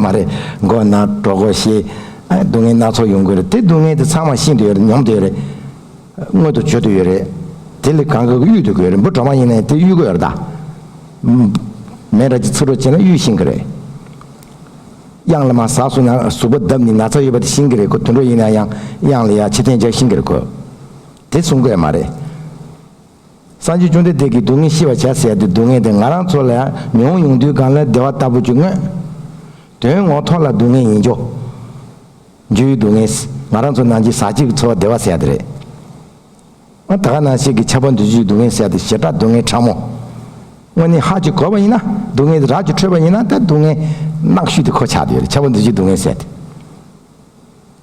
མ་རེད། མགོ་ན་གྲོ་གོ་ཞེས། སྡུག་བསྔལ་སྣ་ཚོགས་ཡོང་གི་རེད། དེ་སྡུག་བསྔལ་དེ་ཚང་མ་ཤེས་འདོད་ཡོད་རེད་མྱོང་འདོད་ཡོད་རེད། མངོན་དུ་བྱོས་འདོད་ཡོད་རེད། དེ་ལས་གང་དགོས་ཀྱི་གཡུལ་འདོད་ཀྱི་ཡོད་རེད་འབུ་གྲོག་མ་ཡིན་ནའི་དེ་གཡུལ་དགོས་རེད་ད། མེ་ར་གཅིག་ཚུར་རོ་བྱས་ན་གཡུལ་ཤིང་གི་རེད། གཡང་ལ་མ་ཟགས་སུ་ན་ཟུག་པ་བརྡབས་ནི་ན་ཚ་ཡོད་པ་དེ་ཤིང་གི་རེད་ཁོ་དུད་འགྲོ་ཡིན་ན་ཡང་གཡང་ལ་ཡ་ཕྱི་ཐན་རྒྱག་ཤིང་གི་རེད་ཁོ། དེ་གསུང་དགོས་ཡ་མ་རེད། སངས་རྒྱས་བཅོམ་ལྡན་འདས་ཀྱིས་སྡུག་བསྔལ་ཤི་བར་བྱ་ཟེར་ཏེ་སྡུག་བསྔལ་དེ་ང་རང་ཚོ་ལ་ཡང་མི་འོང་ཡོང་དུས་གང་ལ་བདེ་བ་ལྟ་བུ་ཅིག་མངོན། དོན་ངོ་ཐོག་ལ་སྡུག་བསྔལ་ཡིན། འཇུ་ཡི་སྡུག་བསྔལ། ང་རང་ཚོ་ནང་བཞིན་ཟག་བཅས་ཀྱི་འཚོ་བ་བདེ་བ་ཟེར་ཡག་དེ་རེད། ད་ག་ནང་བཤད་ཀྱི་ཆགས་པ་འདུ་བྱེད་ཀྱི་སྡུག་བསྔལ་ཟེར་ཏེ་ཞེ་དྲག་སྡུག་བསྔལ་ཕྲ་མོ། དངོས་གནས་ཧ་ཅིག་གོ་བ་ཡིན་ན་སྡུག་བསྔལ་དེ་རགས་ཀྱིས་ཁྲོས་པ་ཡིན་ན་ད་སྡུག་བསྔལ་ནག་ཤོས་དེ་གོ་ཆགས་དེ་ཡོད་རེད་ཆགས་པ་འདུ་བྱེད་སྡུག་བསྔལ་ཟེར་ཏེ།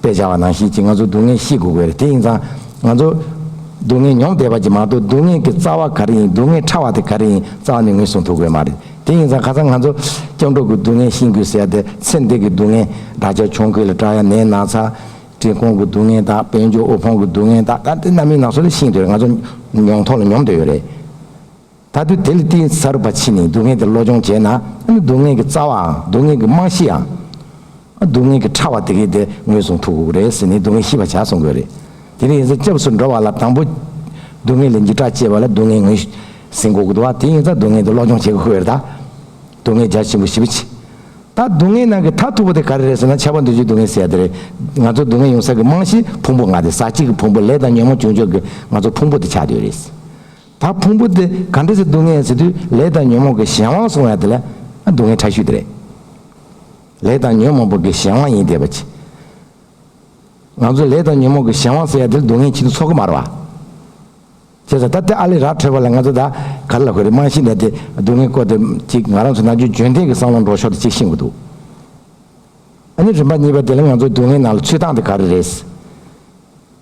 དཔེ་བྱ་བ་ནང་བཞིན་གྱིས་ང་ཚོ་སྡུག་བསྔལ་ཤེས་དགོས་གི་རེད་དེ་ཡིན་ཙང། ང་ཚོ། སྡུག་བསྔལ་མྱོང་བསྡད་པ་གྱིས་མ་གཏོགས་སྡུག་བསྔལ་གྱི་རྩ་བ་ག་རེ་ཡིན་སྡུག་བསྔལ་ཕྲ་བ་དེ་ག་རེ་ཡིན་རྩ་བ་ནས་ངོས་བཟུང་ཐུབ་དགོས་མ་རེད་དེ་ཡིན་ཙང་ཁ་སང་ང་ཚོ། སྐྱབས་འགྲོ་གི་སྡུག་བསྔལ་ཤེས་དགོས་ཟེར་ཏེ་ཚེ་འདས་ཀྱི་སྡུག་བསྔལ་དག་ཆ་ཆུང་ཁུལ་ལ་བཀྲ་ཡ་ནས་ན་ཚ། བྲེལ་ཁོང་གི་སྡུག་བསྔལ་དག་དཔལ་འབྱོར་དབུལ་ཕོངས་ཀྱི་སྡུག་བསྔལ་དག་ག་དེ་རྣམ་སྨིན་ན་སོ་ལ་ཤིན་ཏུ་རེད་ང་ཚོ་མྱོང་ཐོག་ལ་མྱོང་བསྡད་ཡོད་རེད། ད་དུས་དེ་ལས་གཏིང་ཟབ་རུ་བ་ཕྱིན་ནས་སྡུག་བསྔལ་དེ་བློ་སྦྱོང་བྱས་ན་ཨ་ནི་སྡུག་བསྔལ་གྱི་རྩ་བའང་སྡུག་བསྔལ་གྱི་རྨང་གཞི་ཡང། སྡུག་བསྔལ་གྱི་ཕྲ་བ་དེ་གས་དེ་ངོས་བཟུང་ཐུབ་རེད་ཟེར་ནས་སྡུག་བསྔལ་ཤི་བ་བྱ་གསུང་དགོས་རེད། དེ་ནས་ཡིན་ཙང་སྐྱབས་སུ་འགྲོ་བ་ལ་དང་པོ། སྡུག་བསྔལ་ལས་འཇིགས་སྐྲག་སྐྱེས་པ་ལ་སྡུག་བསྔལ་ངོས་ཟིན་གོ་དགོས་དེ་ཡིན་ཙང་སྡུག་བསྔལ་དེ་བློ་སྦྱོང་བྱེད་དགོས་རེད་ད། སྡུག་བསྔལ་རྒྱ་ཆེན་པོ་ཞི་བ་ཕྱིན། ད་སྡུག་བསྔལ་ནང་གི་མཐའ་ཐུག་པོ་དེ་ག་རེ་རེད་ཟེར་ན་ཆགས་པ་འདོད་ཆུང་སྡུག་བསྔལ་ཟེར་ཡ་དེ་རེད། ང་ཚོ་སྡུག་བསྔལ་ཡོང་ས་ཀྱི་རྨང་གཞི་ཕུང་པོ་ལྔ་དེ་ཟག་བཅས་ཀྱི་ཕུང་པོ་ལས་དང་ཉོན་མོངས་བྱུང་ཆོག་གི་ང་ཚོ་ཕུང་པོ་དེ་ཆགས་འདོད་རེད། ད་ཕུང་པོ་དེ་ག་འདྲས་སུ་སྡུག་བསྔལ་ཟེར་དུས་ལས་དང་ཉོན་མོངས་ཀྱི་གཞན་དབང་སོང་ཡ་དེ་ལ་སྡུག་བསྔལ་ཕྲ་ཤུལ་དེ་རེད། ལས་དང་ཉོན་མོངས་པོ་གི་གཞན་དབང་ཡིན་དེ་བ་ཅི། ང་ཚོ་ལས་དང་ཉོན་མོངས་ཀྱི་གཞན་དབང་ཟེར་ཡ་དེ་ལ་སྡུག་བསྔལ་ཕྱིན་དུ་ཚོགས་ཀྱི་མ་རེད་བ། བྱས་ཙང་ད་དེ་ཨ་ལས་རག་འཕྲོད་པ་ལ་ང་ཚོ་ད་ག་ལ་ཧོད་རེད་རྨང་གཞི་འདྲ་དེ་སྡུག་བསྔལ་བཀོལ་དེ་ཅིག་ང་རང་ཚོ་ནང་ཆོས་འཇོན་ཐེངས་ཀྱི་བསམ་བློ་འགྲོ་ཤོག་དེ་ཅིག་ཤེས་དགོས་འདུག་ཨ་ནི་རིམ་པ་གཉིས་པ་དེ་ལ་ང་ཚོ་སྡུག་བསྔལ་ནང་ལ་ཚུད་སྟངས་དེ་ག་རེ་རེད།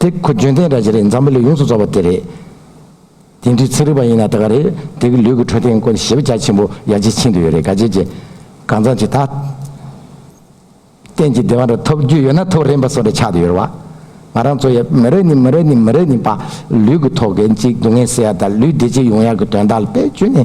དེ་ཁོ་རྒྱུན་ལྡན་འདྲ་ཅི་རེད་འཛམ་བུ་ལས་ཡོངས་སུ་རྫོགས་པ་དེ་རེད། དེ་འདྲའི་ཚིག་རིག་པ་ཡིན་ན་ད་ག་རེད་དེ་གི་ལུས་ཀྱི་འཕྲོད་བསྟེན་སྐོར་ཞིབ་རྒྱ་ཆེན་པོ་ཡར་རྒྱས་ཕྱིན་དུ་ཡོད་རེད་ག་རྗེས་ཀྱི་གང་ཙམ་ཞིག་ད་གཏན་གྱི་བདེ་བ་འདྲ་ཐོབ་རྒྱུ་ཡོད་ན་ཐོབ་རན་པ་སོགས་འདྲ་ཆགས་དུ་ཡོད་རེད་བ། ང་རང་ཚོ་ཡ་མི་རེ་ནི་མི་རེ་ནི་མི་རེ་ནི་བ་ལུས་ཀྱི་ཐོག་གི་གཅིག་སྡུག་བསྔལ་སེལ་ཡ་དང་ལུས་བདེ་སྐྱིད་ཡོང་ཡ་གི་དོན་དག་ལ་བེད་སྤྱོད་ནི།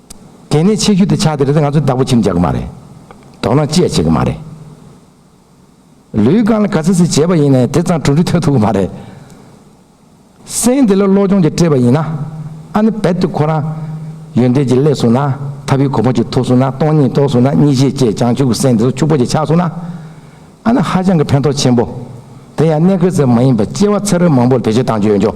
དེ་ནས་ཆེ་ཤོས་དེ་ཆགས་དེ་རེད་ང་ཚོ་བདག་པོ་བྱེད་མཇལ་གི་མ་རེད། དོགས་སྣང་ཅི་ཡང་བྱེད་གི་མ་རེད། ལུས་གང་ལ་ག་ཚད་ཚད་བྱས་པ་ཡིན་ནའི་དེ་ཙམ་གྲུབ་འབྲས་ཐོན་ཐུབ་གི་མ་རེད། སེམས་དེ་ལ་བློ་སྦྱོང་གྱིས་སྤྲས་པ་ཡིན་ན། ཨ་ནི་རྦད་དེ་ཁོ་རང། ཡོན་ཏན་གྱིས་བསླད་སོང་ན། ཐབས་ཡུལ་གོམས་པ་གྱིས་ཐོབ་སོང་ན་སྟོང་ཉིད་རྟོགས་སོང་ན་གཉིས་ཤེས་བཅས་བྱང་ཆུབ་ཀྱི་སེམས་དེ་ཚོ་ཕྱུག་པོ་གྱིས་ཆགས་སོང་ན། ཨ་ནི་ཧ་ཅང་གི་ཕན་ཐོགས་ཆེན་པོ། དེ་ཡང་གནད་ཁེལ་ཟེར་བ་མ་ཡིན་པར་སྐྱེ་བ་ཚེ་རོལ་མང་པོར་བེད་སྤྱོད་བཏང་ཆོག་ཡོད་ཆོག།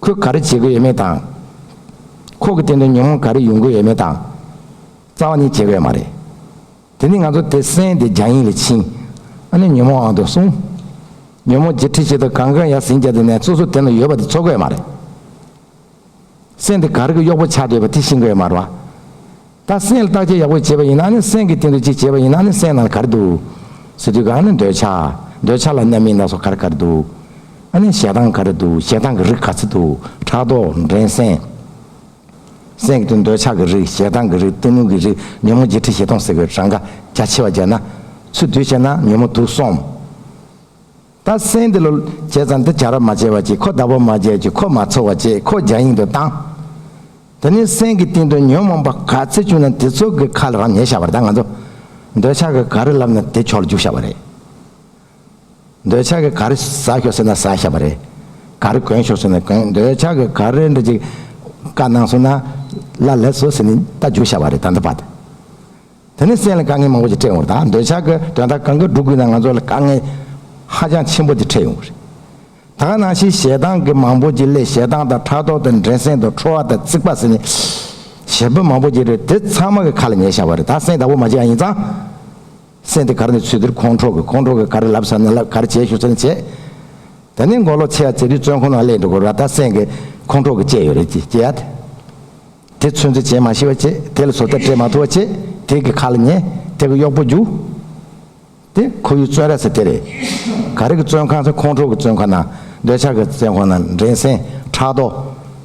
ཁོས་ག་རེ་བྱེད་དགོས་ཡོད་མེད་དང། ཁོག་གི་སྟེང་དུ་ཉོན་མོངས་ག་རེ་ཡོང་དགོས་ཡོད་མེད་དང། རྩ་བ་ནི་བྱེད་དགོས་ཡོད་མ་རེད། དེ་ནི་ང་ཚོ་དེ་གསན་ཏེ་རྒྱང་ཡིག་ལ་ཕྱིན། ཨ་ནི་ཉོན་མོངས་ཨང་དུ་སོང། ཉོན་མོངས་ཀྱི་འཁྲིད་བྱེད་དུ་གང་གང་ཡག་ཟིན་རྒྱག་དེ་ནས་སོ་སོ་དེ་ལ་ཡོད་པ་དེ་འཚོལ་དགོས་ཡོད་མ་རེད། གསན་ཏེ་ག་རེ་གི་གཡོག་པོ་ཆགས་འདོད་པ་དེ་ཤི་དགོས་ཡོད་མ་རེད། ད་སེམས་བརྟག་དཔྱད་ཡག་པོ་བྱས་པ་ཡིན་ན་ནི་སེམས་ཀྱི་སྟེང་དུ་གཅིག་བྱས་པ་ཡིན་ན་ནི་སེམས་ནང་གར་འདུག། སི་ཏུ་གང་ནི་འདོད་ཆགས། འདོད་ཆགས་ལ་རྣམ་སྨིན་སྣ་ཚོགས་གར་གར་འདུག། ཨ་ནི་ཞེ་སྡང་གར་འདུག་ཞེ་སྡང་གི་རིགས་ག་ཚོད་འདུག་ཕྲག་དོག་འགྲན་སེམས། སེམས་ཀྱི་སྟེང་འདོད་ཆགས་ཀྱི་རིགས་ཞེ་སྡང་གི་རིགས་གཏི་མུག་གི་རིགས་ཉོན་མོངས་བརྗེད་ཁྲི་བཞི་སྟོང་ཟེར་བའི་གྲངས་ཀ་རྒྱ་ཆེ་བ་བརྒྱད་ན། ཚུལ་བསྡུ་བྱས་ན་ཉོན་མོངས་དུག་གསུམ། ད་སེང་འདི་ལོ་བྱས་ཙང་འདི་བྱ་ར་མ་བྱས་བ་ཅིག་ཁོ་ཟླ་བོ་མ་བྱས་ཅིག་ཁོ་མ་འཚོ་བ་བྱས་ཁོ་རྒྱ་ཡིང་དུ་བཏང། དེ་ནས་སེང་གི་སྟེང་དུ་ཉོན་མོངས་པ་ག་ཚད་བཅུག་ན་དེ་ཚོ་གི་ཁ་ལ་རང་ཉལ་བྱ་བར་ད་ང་ཚོ་འདོད་ཆགས་ཀྱི་ག་རི་ལབ་ན་དེ་ཁྱོག་ལ་རྒྱུག་བྱ་བ་རེད། འདོད་ཆགས་ཀྱི་ག་རི་ཟ་ཤོག་ཟེར་ན་ཟ་བྱ་བ་རེད། ག་རི་གོན་ཤོག་ཟེར་ན་གོན་འདོད་ཆགས་ཀྱི་ག་རི་འདྲ་ཅིག་ཀ་གནང་སོང་ན་ལ་ལེགས་སོ་ཟེར་ནས་ད་རྒྱུག་བྱ་བ་རེད་ད་འདི་བ། དེ་ནི་སེམས་ལ་དཀའ་ངལ་མང་པོ་ཞིག་འཕྲད་ཡོང་བ་རེད་ད་འདོད་ཆགས་ཀྱི་དོན་དག་གང་གི་སྒྲུབ་དགོས་ན་ང་ཚོ་ལ་དཀའ་ངལ་ཧ་ཅང་ཆེན་པོ་དེ་འཕྲད་ཡོང་གི་རེད། ད་ག་ནང་བཞིན་ཞེ་སྡང་གི་མང་པོ་ཅིག་ལས་ཞེ་སྡང་དང་ཕྲག་དོག་དང་འགྲན་སེམས་དང་ཁྲོ་བ་དང་རྩིག་པ་ཟེར་ནས་ཞེ་འབོད་མང་པོ་ཅིག་རེད་དེ་ཚང་མ་གི་ཁ་ལ་ཉན་བཞག་པ་རེད་ད་སེམས་དག་པོ་མ་བྱས་ཡང་ཡིན་ཙང་སེམས་དེ་གར་ནས་ཚུད་དེར་ཁོང་ཁྲོ་གི་ཁོང་ཁྲོ་གི་གར་ལབ་ས་ནས་ལབ་གར་བྱེད་ཞུ་ས་ནས་བྱེད། དེ་ནས་མགོ་ལོག་ཆེ་བ་ཚེ་རིང་བཙོན་ཁང་ནང་སླེབས་འགྲོ་དགོས་ར་ད་སེམས་གི་ཁོང་ཁྲོ་གི་བཅས་ཡོད་རེད་ཅེས་ཡ། དེ་ཚོད་འཛིན་བྱེད་མ་ཤེས་པ་བྱེད། དེ་ལ་བཟོ་ལྟ་སྤྲད་མ་ཐུབ་པ་བྱེད། དེ་གི་ཁ་ལ་ཉེ། དེ་གི་གཡོག་པོ་རྒྱུ། དེ་ཁོ་བོའི་བཙོན་ར་ཟེར་དེ་རེད། ག་རེ་གི་བཙོན་ཁང་ཟེར་ཁོང་ཁྲོ་གི་བཙོན་ཁང་ན། འདོད་ཆགས་ཀྱི་བཙན་ཁང་ན་འགྲན་སེམས་ཕྲག་དོག།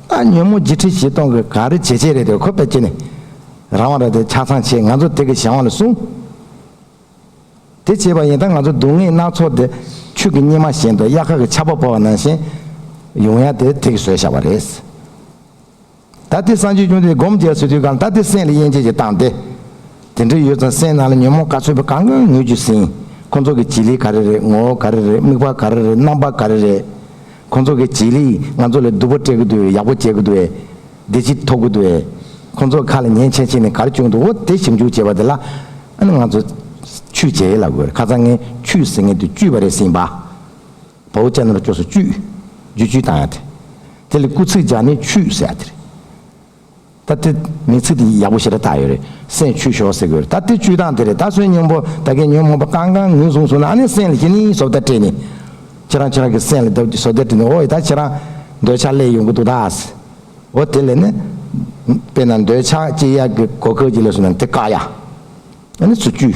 ཨ་ཉོན་མོ་བརྗིད་ཁྲི་བཞི་སྟོང་གི་ག་རེ་བྱེད་བྱེད་རེད་དེ་ཁོ་བོས་ཀྱི་ནི། རང་དབང་རེད་དེ་ཆ་ཚང་བྱེད་ང་ཚོ་དེ་གི་ཞང་བ་ལ་སྲུང། དེ་བྱེད་པ་ཡིན་ད་ང་ཚོ་སྡུག་བསྔལ་སྣ་ཚོགས་དེ། ཆུ་གི་སྙེ་མ་བཞིན་དུ་གཡག་ཁ་གི་ཆར་པ་བོར་བ་ནང་བཞིན། ཡོང་ཡ་དེ་དེ་གི་བཟོས་བཞག་པ་རེད། ད་ལྟའི་སངས་རྒྱས་བྱུང་སྟེ་སྒོམ་རྒྱལ་སྲིད་དུས་གང་ད་ལྟའི་སེམས་ལ་དབྱེ་འབྱེད་ཀྱི་སྟངས་ཏེ། དེ་འདྲ་ཡོད་ཙང་སེམས་ནང་ལ་ཉོན་མོངས་ག་ཚོད་པོ་གང་གང་ངོས་ཀྱིས་ཟིན། ཁོ་ཚོ་གི་བྱེད་ལས་ག་རེ་རེད་ངོ་བོ་ག་རེ་རེད་དམིགས་པ་ག་རེ་རེད་རྣམ་པ་ག་རེ་རེད། ཁོ་ཚོ་གི་བྱེད་ལས་ང་ཚོ་ལ་སྡུག་པོ་སྤྲད་ཀི་འདུག་བས་ཡག་པོ་བྱེད་ཀི་འདུག་བས་བདེ་སྐྱིད་ཐོབ་ཀི་འདུག་བས། ཁོ་ཚོ་ཁ་ལ་ཉན་ཆེ་ཆེ་ནས་གར་བསྐྱུག་འདུག་འོ་དེ་ཞིབ་འཇུག་བྱས་པ་དེ་ལ་ཨ་ནི་ང་ཚོ་ཆུས་བྱས་ཡས་ལ་དགོས་རེད་ཁ་ཚ་ངས་ཆུས་ཟེར་ངེས་དུས་བཅུས་པ་རེད་སྲིད་པ། བོ་བཅད་ནོར་སྐྱོ་སོ་བཅུད། རྒྱུ་བཅུད་དང་ཡང་དེ། དེ་ལས་སྐུ་ཚིག་སྦྱར་ནས་ཆུད་ཟས་དེ་རེད། ད་དེ། མིང་ཚིག་དེ་ཡག་པོ་ཞེ་དྲག་བཏགས་ཡོད་རེད། སེན་ཆུད་ཞོག་ཟེར་གི་ཡོད་རེད་ད་དེ་བཅུད་དང་དེ་རེད་ད་སོན་སྙིང་པོ་ད་གས་ཉོན་མོངས་པ་གང་གང་ངུས་གསུངས་སོང་ན་ཨ་ནི་སེན་ལ་ཞི་ནི་ཟོབ་ལྟ་སྤྲད་ནི། ཁྱེད་རང་ཁྱེད་རང་གི་སེན་ལ་ཟོབ་ལྟ་སྤྲད་ནི་འོ་ཡི་ད་ཁྱེད་རང། འདོད་ཆགས་ལས་ཡོང་གི་འདུག་ད། འོ་དེ་ལས་ནི། དཔེར་ན་འདོད་ཆགས་སྐྱི་གཡའ་གི་གོ་ཁེའུ་གཅིག་ལས་སོན་ན་དེ་བཀག་ཡ། ཨ་ནི་སུ་བཅུད།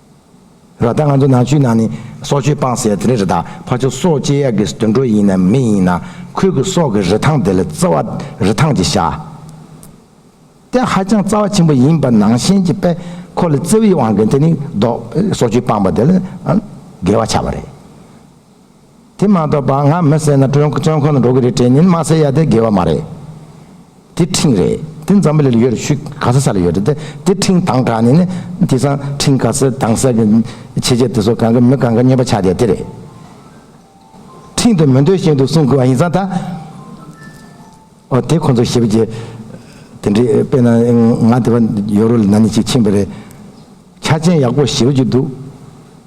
ད་ལྟ་ང་ཚོ་ནག་ཆུའི་ནང་ནས་སྲོག་གཅོད་སྤངས་ཟེར་དེ་རེད་ད་ཕ་ཆོས་སྲོག་བཅད་ཡག་གི་དུད་འགྲོ་ཡིན་ནམ་མི་ཡིན་ན་ཁོས་གི་སྲོག་གི་རི་ཐང་དེ་ལ་རྩི་བ་རི་ཐང་གི་བྱ་དེ་ཧ་ཅང་རྩ་བ་ཆེན་པོ་ཡིན་པ་ནང་བཞིན་གྱི་པས་ཁོ་ལ་རྩི་བའི་དབང་གི་དེ་ནི་སྲོག་གཅོད་སྤངས་པ་དེ་ལ་འགལ་བ་ཆགས་པ་རེད་དེ་མ་གཏོགས་པ་ང་མི་བསད་ན་ཀྲོན་ཆོན་ཁོ་ན་འགྲོ་གི་རེད་དྲན་ཉིན་མ་བསད་ཡ་དེ་དགེ་བ་མ་རེད། དེ་ཁྲིང་རེད་དེ་འཛམ་བུ་ལི་ལ་ཡོད་རེད་ཤུད་ག་ས་ས་ལ་ཡོད་རེད་དེ་དེ་ཁྲིང་དང་དྲ་ནི་ནི་དེ་སང་ཁྲིང་ག་སེ་དང་སེ་གི་ཆེ་ཆེ་དེ་སོ་གང་གི་མི་གང་གི་ཉོས་པ་ཆགས་བསྡད་དེ་རེད། ཁྲིང་དུ་མི་འདོད་བཞིན་དུ་གསུང་གི་བ་ཡིན་ས་ད། འོ་དེ་ཁོ་ཚོ་ཞིབ་ཀྱི་དེ་འདྲི་དཔེ་ན་ང་དེ་བ་ཡོ་རོ་ལི་ན་ནི་ཅིག་ཕྱིན་པ་རེད་ཆ་ཅན་ཡག་པོ་ཞིབ་ཀྱི་འདུག་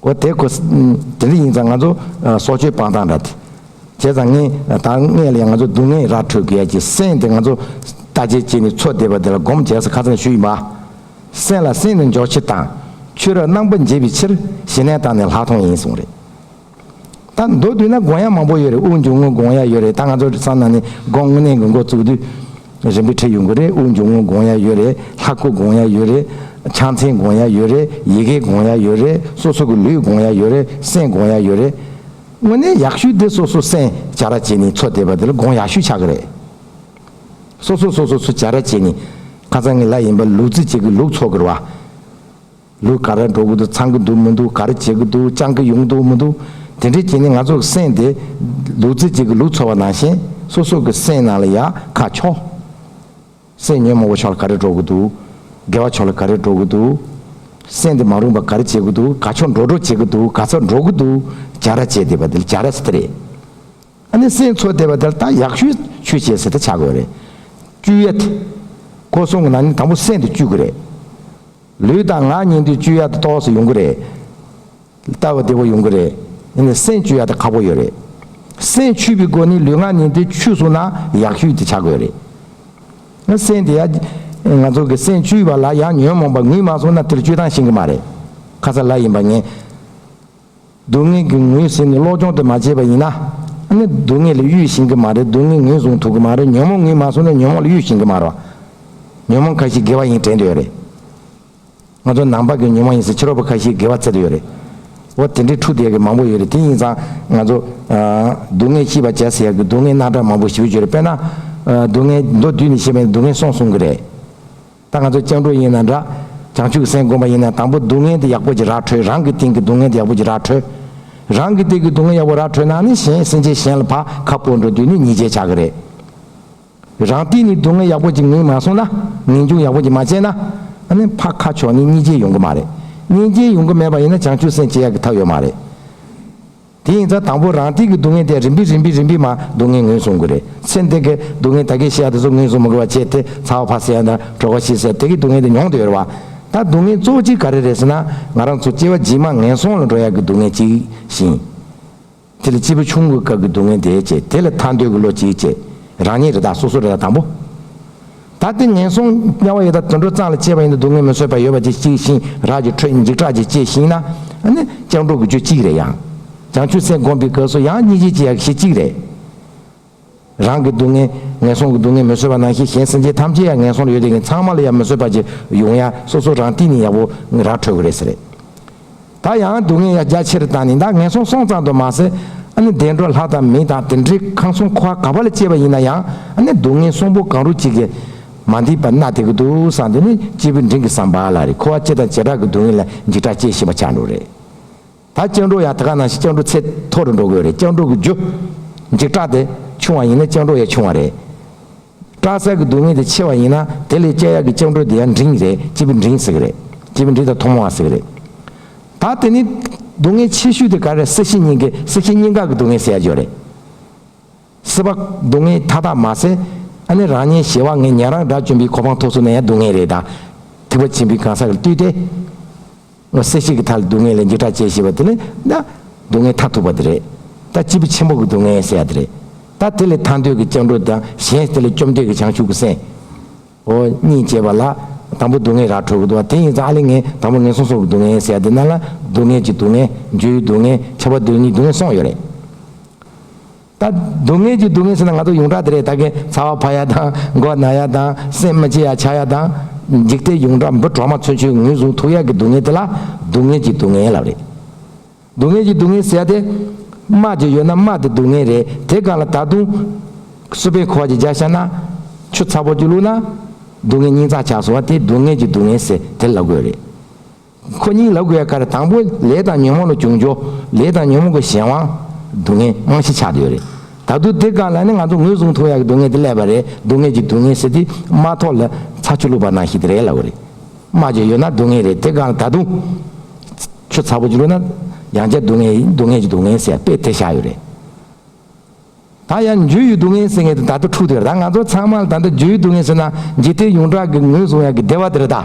འོ་དེ་ཁོ། དེ་འདྲ་ཡིན་ཙང་ང་ཚོ་སྲོག་གཅོད་སྤང་ཐང་འདྲ། བྱས་ཙང་ངས་ད་སྔས་ལ་ཡང་ང་ཚོ་སྡུག་བསྔལ་རག་འཕྲོད་དགོས་ཡ་ཀྱི་སེམས་དེ་ང་ཚོ་ལྟ་ཇེ་ཇེ་ནས་འཚོ་བསྡད་པ་དེ་ལ་སྒོམ་བྱས་ས་ཁ་ཚང་ཞུ་ཡི་མ། སེམས་ལ་སེམས་ནས་འཇོག་ཕྱིར་དང། ཆོས་ར་རྣམ་པ་འབྱེད་པའི་ཕྱིར་ཞི་གནས་དང་ནས་ལྷག་མཐོང་ཡིན་གསུངས་རེད། ད་མདོ་དུད་ན་དགོངས་ཡག་མང་པོ་ཡོད་རེད་དབུགས་འབྱུང་ངོ་དགོངས་ཡག་ཡོད་རེད་ད་ང་ཚོ་ས་ན་ནི་དགོངས་གནས་གི་འགོ་བཙུགས་དུས་རིམ་པས་ཁྲིད་ཡོང་གི་རེད་དབུགས་འབྱུང་ངོ་དགོངས་ཡག་ཡོད་རེད་ལྷ་སྐུ་དགོངས་ཡག་ཡོད་རེད་ཕྱག་མཚན་དགོངས་ཡག་ཡོད་རེད་ཡི་གེ་དགོངས་ཡག་ཡོད་རེད་སོ་སོ་གི་ལུས་དགོངས་ཡག་ཡོད་རེད་སེམས་དགོངས་ཡག་ཡོད་རེད། དངོས་གནས་ཡག་ཤོས་དེ་སོ་སོ་སེམས་བྱ་ར་བྱེད་ནི་འཚོ་བསྡད་པ་དེ་ལ་དགོངས་ཡག་ཤོས་ཆགས་ཀྱི་རེད། སོ་སོ་སོ་སོ་འཚོ་བྱ་ར་བྱེད་ནི་ཁ་ཚང་གི་ལ་ཡིན་པ་ལུག་རྫི་བྱེད་ཀྱི་ལུག་འཚོ་གི་ར་བ། ལུས་ག་རེ་འགྲོ་གི་འདུག་འཚང་གི་འདུག་མི་འདུག་ག་རེ་བྱེད་ཀྱི་འདུག་སྤྱང་ཀི་ཡོང་གི་འདུག་མི་འདུག་དེ་འདྲའི་རྐྱེན་ནི་ང་ཚོ་གི་སེམས་དེ། ལུག་རྫི་གཅིག་གི་ལུག་འཚོ་བ་ནང་བཞིན་སོ་སོ་གི་སེམས་ནང་ལ་ཡ་ཁ་འཁྱོག། སེམས་ཉོན་མོངས་པ་ཕྱོགས་ལ་ག་རེ་འགྲོ་གི་འདུག། དགེ་བ་ཕྱོགས་ལ་ག་རེ་འགྲོ་གི་འདུག། སེམས་དེ་མ་རུངས་པ་ག་རེ་བྱེད་ཀྱི་འདུག་ག་ཕྱོགས་འགྲོ་འགྲོ་བྱེད་ཀྱི་འདུག་ག་ཚ་འགྲོ་གི་འདུག་བྱ་ར་བྱེད་བསྡད་པ་དེ་ལ་བྱ་ར་ཟེར་ཏེ་རེད། ཨ་ནི་སེམས་འཚོ་བསྡད་པ་དེ་ལ་ད་ཡག་ཤོས་ཤོས་བྱེད་ཟེར་ཏེ་བྱ་དགོས་རེད། བཅུ་ཡ། སྒོ་སྲུང་གི་ནང་ནས་དང་པོ་སེམས་དེ་བཅུག་གི་རེད། ལུས་དང་ངག་ཉིན་དུས་བཅུ་ཡར་དུ་ལྟོགས་སུ་ཡོང་གི་རེད། ལྟ་བ་བདེ་བོ་ཡོང་གི་རེད། ཡིན་ནའི་སེམས་བཅུ་ཡར་དུ་ཁག་པོ་ཡོད་རེད། སེམས་ཆུད་པའི་སྒོ་ནས་ལུས་ངག་ཉིན་དུས་ཆུད་སོང་ན་ཡག་ཤོས་དེ་བྱ་དགོས་རེད། ཡང་སེམས་དེ་ཡར། ང་ཚོ་གི་སེམས་བཅུ་བ་ལ་ཡང་ཉོན་མོངས་པ་ངུས་མ་སོང་ན་དེར་བཅུད་ཐང་ཤིན་གི་མ་རེད། ཁ་ཚ་ལ་ཡིན་པ་ངས། སྡུག་བསྔལ་གྱི་ངོས་ཟིན་ནས་བློ་སྦྱོང་དེ་མ་བྱས་པ་ཡིན་ན། ནི་སྡུག་བསྔལ་ལས་གཡོལ་ཞིང་གི་མ་རེད་སྡུག་བསྔལ་ངོས་བཟུང་ཐུབ་ཀྱི་མ་རེད་ཉོན་མོངས་ངོས་མ་བཟུང་ན་ཉོན་མོངས་ལ་གཡོལ་ཞིང་གི་མ་རོ། ཉོན་མོངས་ཁ་ཤས་དགེ་བ་ཡིན་དྲན་དུ་ཡོད་རེད། ང་ཚོ་ནང་པ་གི་ཉོན་མོངས་ཡིན་སྲིད་ཕྱི་རོལ་པོ་ཁ་ཤས་དགེ་བ་འཚལ་དུ་ཡོད་རེད། འོ་དེ་འདྲའི་འཁྲུག་སྡད་གི་མང་པོ་ཡོད་རེད་དེ་ཡིན་ཙང་ང་ཚོ། སྡུག་བསྔལ་ཤིས་པ་བྱས་ཟེར་ཡག་གི་སྡུག་བསྔལ་སྣ་དྲངས་མང་པོ་ཞི་བོ་བརྗོད་རེད་དཔེར་ན། སྡུག་བསྔལ་མདོ་བསྡུས་ནས་བཤད་པ་ནི་སྡུག་བསྔལ་སོང་གསུང་གི་རེད། ད་ང་ཚོ་སྤྱང་གྲུང་ཡིན་ན་འདྲ། བྱང་ཆུབ་སེམས་སྒོམ་པ་ཡིན་ན་དང་པོ་སྡུག་བསྔལ་དེ་ཡག་པོ་ཅི་རག་འཕྲོད་རང་གི་སྟེང་གི་སྡུག་བསྔལ་དེ་ཡག་པོ་ཅི་རག་འཕྲོད། རང་གི་སྟེང་གི་སྡུག་བསྔལ་ཡག་པོ་རག་འཕྲོད་ན་ནི་གཞན་སེམས་ཅན་གཞན་ལ་བག་ཁ་སྤོ་འགྲོ་དུས་ནི་ཉེས་ཆད་ཆག་གི་རེད། རང་སྟེང་ནས་སྡུག་བསྔལ་ཡག་པོ་ཅི་ངེས་མ་སོང་ན། ངེས་འབྱུང་ཡག་པོ་ཅི་མ་བྱས་ན། ཨ་ནི་བག་ཁ་ཕྱོགས་ནི་གཉིས་ཅན་ཡོང་གི་མ་རེད། གཉིས་ཅན་ཡོང་གི་མེད་པ་ཡིན་ན་བྱང་ཆུབ་སེམས་སྐྱེ་ཡག་གི་ཐབས་ཡོད་མ་རེད། དེ་ཡིན་ཙང་དང་པོ་རང་སྟེང་གི་སྡུག་བསྔལ་དེ་རིམ་པས་རིམ་པས་རིམ་པས་མ་སྡུག་བསྔལ་ངོས་བཟུང་དགོས། རེད་ཚེ་འདི་གའི་སྡུག་བསྔལ་ད་གའི་ཤི་ཡ་དེ་ཚོ་ངོས་བཟུང་མི་དགོས་པ་བྱས་ཏེ་ཚ་བ་ཕག་ཟས་དང་གྲོ་ག་ཤི་ཟས་དེ་གའི་སྡུག་བསྔལ་དེ་མྱོང་དུ་ཡོད་རེད་བ། ད་སྡུག་བསྔལ་གཙོ་བོ་གཅིག་ག་རེ་རེད་ཟེར་ན་ང་རང་ཚོ་སྐྱེ་བ་རྗེས་མ་ངན་སོང་ལ་འགྲོ་ཡག་གི་སྡུག་བསྔལ་གཅིག་བཞིན། དེ་ལ་སྐྱེས་བུ་ཆུང་ངུའི་སྐབས་ཀྱི་སྡུག་བསྔལ་དེ་བཅས་དེ་ལ་ཐར་འདོད་ཀྱི་བློ་གཅིག་བཅས་རང་ཉིད་རེ་དྭགས་སོ་སོ་རེ་དྭགས་དང་པོ། ད་ལྟའི་ངན་སོང་དམྱལ་བ་ཡི་དྭགས་དུད་འགྲོ་གཙང་ལ་སྐྱེས་པ་ཡིན་དུ་སྡུག་བསྔལ་མི་བཟོད་པ་ཡོད་པ་ཅིག་གཅིག་ཤིང་རྭ་གྱི་ཁྲོད་འཇིགས་སྐྲག་ཅིག་སྐྱེས་ཤིང་ན་ནི་སྤྱང་གྲུང་གི་རྒྱུ་གཅིག་རེད་ཡང་བྱང་ཆུབ་སེམས་བསྒོམ་པའི་སྐབས་སུ་ཡང་གཉིས་བྱེད་ཀྱི་ཡག་ཤེས་གཅིག་རེད། རང་གི་སྡུག་བསྔལ་ངན་སོང་གི་སྡུག་བསྔལ་མི་བཟོད་པ་ནང་བཞིན་གཞན་སེམས་ཅན་ཐམས་ཅད་ཡང་ངན་སོང་ལ་ཡོད་དེ་ངེད་ཚང་མ་ལ་ཡང་མི་བཟོད་པ་ཅིག་ཡོང་ཡ་སོ་སོ་རང་སྟེང་ནས་ཡག་པོ་ར་འཕྲོད་དགོས་རེད་ཟེར། ད་ཡང་སྡུག་བསྔལ་ཡང་རྒྱ་ཆེར་བཏང་ནས་ད་ངན་སོང་སོང་ཙང་དུ་མ་ཟད་ཨ་ནི་བདེ་འགྲོ་ལྷ་དང་མི་དང་དེ་འདྲའི་ཁང་སོང་ཁོ་ཨ་ག་བ་ལ་སྐྱེས་པ་ཡིན་ན་ཡང་ཨ་ནི་སྡུག་བསྔལ་སོང་པོ་གང་རུང་གཅིག་གིས་མ་འདི་པ་ན་དེ་གི་འདུག་བསམ་དེ་ནི་སྐྱེས་བུ་འབྲིང་གི་བསམ་པ་ལ་རེ་ཁོ་ཨ་ཅེ་དང་བྱེ་བྲག་གི་སྡུག་བསྔལ་ལ་འཇིགས་སྐྲག་སྐྱེ་བཞིན་པ་ཆགས་འགྲོ་རེད། ད་སྐྱག་འགྲོ་ཡང་ད་ག་ནང་བཞིན་སྐྱག་འགྲོ་ཚད་མཐོ་རུ་འགྲོ་དགོས་རེད་སྐྱག་འགྲོ་གི་རྒྱུ། འཇིགས་སྐྲག་དེ་ཆུང་བ་ཡིན་ན་སྐྱག་འགྲོ་ཡང་ཆུང་བ་རེད། སྐྲ་སེར་གྱི་སྡུག་བསྔལ་དེ་ཆེ་བ་ཡིན་ན་དེ་ལས་དཔྱད་ཡག་གི་ལྕགས་འགྲོས་དེ་ཡང་འབྲིང་རེད་སྤྱི་པའི་འབྲིང་ཟེར་གི་རེད་སྤྱི་པའི་འབྲིང་དང་ཐོག་མ་བ་ཟེར་གི་རེད། ད་དེ་ནི་སྡུག་བསྔལ་ཆེ་ཤོས་དེ་ག་རེ་སྲིད་ཞི་སྙིང་གི་སྲིད་ཞི་སྙིང་ག་གི་སྡུག་བསྔལ་ཟེར་ཡ་ཆོད་རེད། སྲིད་པ་སྡུག་བསྔལ་མཐའ་དག་མ་ཟེར་ཨ་ནི་རང་ཉེན་ཞེ་བ་ངས་ཉན་རང་སྒྲ་བཅོམ་པའི་གོ་འཕང་ཐོག་སུ་ན་ཡང་སྡུག་བསྔལ་རེད་ད་ཐིགས་པ་ཆེན་པོའི་གང་ཟག་གི་བཏུས་ཏེ། སྔོན་སེམས་ཤིང་གི་མཐའ་ལ་སྡུག་བསྔལ་ལས་འགྱུར་ཕྲ་བཅས་ཞེས་པ་དེ་ནི་ན། སྡུག་བསྔལ་མཐའ་ཐུག་པ་དེ་རེད། ད་སྤྱི་བོ་ཆེན་པོ་གི་སྡུག་བསྔལ་ཟེར་ཡ་དེ་རེད། ད་དེ་ལས་ཐར་འདོད་ཀྱི་སྐྱབས་འགྲོ་དང་གཞན་དེ་ལས་སྐྱོབ་འདོད་ཀྱི་བྱང་ཆུབ་ཀྱི་སེམས། འོ་གཉིས་བཅས་པ་ལ། དང་པོ་སྡུག་བསྔལ་ར་འཕྲོད་ཀྱི་འདུག་བ་དེ་ཡིན་ཙང་ཨ་ལས་ངན་དང་པོ་ངན་སོང་སོགས་ཀྱི་སྡུག་བསྔལ་ཟེར་ཡ་དེ་ན་ལ། སྡུག་བསྔལ་གྱི་སྡུག་བསྔལ། འཇོལ་ཡུལ་སྡུག་བསྔལ། ཁྱབ་པ་སྡུག་བསྔལ་གཉིས་སྡུག་བསྔལ་སོང་ཡོད་རེད། ད་སྡུག་བསྔལ་གྱི་སྡུག་བསྔལ་ཟེར་ན་ང་ཚོ་ཡོངས་གྲགས་དེ་རེད་ད་གིན་ཚ་བ་བར་ཡ་དང་མགོ་ན་ཡ་དང་སེམས་མི་སྐྱིད་ཡ་ཆགས་ཡ་དང། འཇིག་རྟེན་ཡོངས་གྲགས་འབུ་གྲོག་མ་ཚོན་ཆུས་ངོས་བཟུང་ཐུག་ཡ་གི་སྡུག་བསྔལ་དེ་ལ་སྡུག་བསྔལ་གྱི་སྡུག་བསྔལ་ཡིན་ལབ་རེད། སྡུག་བསྔལ་གྱི་སྡུག་བསྔལ་ཟེར་ཡ་དེ། དམག་ཅིག་ཡོད་ན་དམག་དེ་སྡུག་བསྔལ་རེད་དེ་གང་ལ་ད་དུང། སུ་པའི་ཁོག་ཅིག་རྒྱག་ཤར་ན། ཆུ་ཚ་པོ་ཅིག་བླུགས་ན། སྡུག་བསྔལ་སྙིང་རྩ་ཆགས་སོང་བ་དེ་སྡུག་བསྔལ་གྱི་སྡུག་བསྔལ་ཟེར་དེར་ལབ་དགོས་རེད། ཁོ་གཉིས་ལབ་དགོས་པའི་ཁར་དང་པོ་ལས་དང་ཉོན་མོངས་ལ་གྱོང་འགྱོ། ལས་དང་ཉོན་མོངས་ཀྱི་གཞན་དབང། སྡུག་བསྔལ་རྨང་གཞི་ཆགས་ཡོད་རེད། ད་དུང་དེ་ག་ལ་ནི་ང་ཚོ་ངོས་བཟུང་ཐུབ་ཡག་གི་སྡུག་བསྔལ་དེ་སླད་པ་རེད་སྡུག་བསྔལ་གྱི་སྡུག་བསྔལ་ཟེར་དེ་རྨ་ཐོག་ལ་ཚྭ་ཆུ་བླུགས་པ་ནང་ཞིག་དེ་རེད་ལབ་རེད། རྨ་བྱས་ཡོད་ན་སྡུག་བསྔལ་རེད་དེ་ག་ལ་ད་དུང། ཆུ་ཚ་པོ་ཅིག་བླུགས་ན་ཡང་བསྐྱར་སྡུག་བསྔལ་ཡིན་སྡུག་བསྔལ་གྱི་སྡུག་བསྔལ་ཟེར་དཔེ་དེ་བཞག་ཡོད་རེད། ད་ཡང་འཇུ་ཡི་སྡུག་བསྔལ་ཟེར་མཁན་དེ་ད་ལྟ་འཁྲུགས་འདུག་ད་ང་ཚོ་ཚང་མ་ལ་ད་ལྟ་འཇུ་ཡི་སྡུག་བསྔལ་ཟེར་ན་འཇིག་རྟེན་ཡོངས་གྲགས་ཀྱི་ངོས་བཟུང་ཡག་གི་བདེ་བ་དེ་རེད་ད།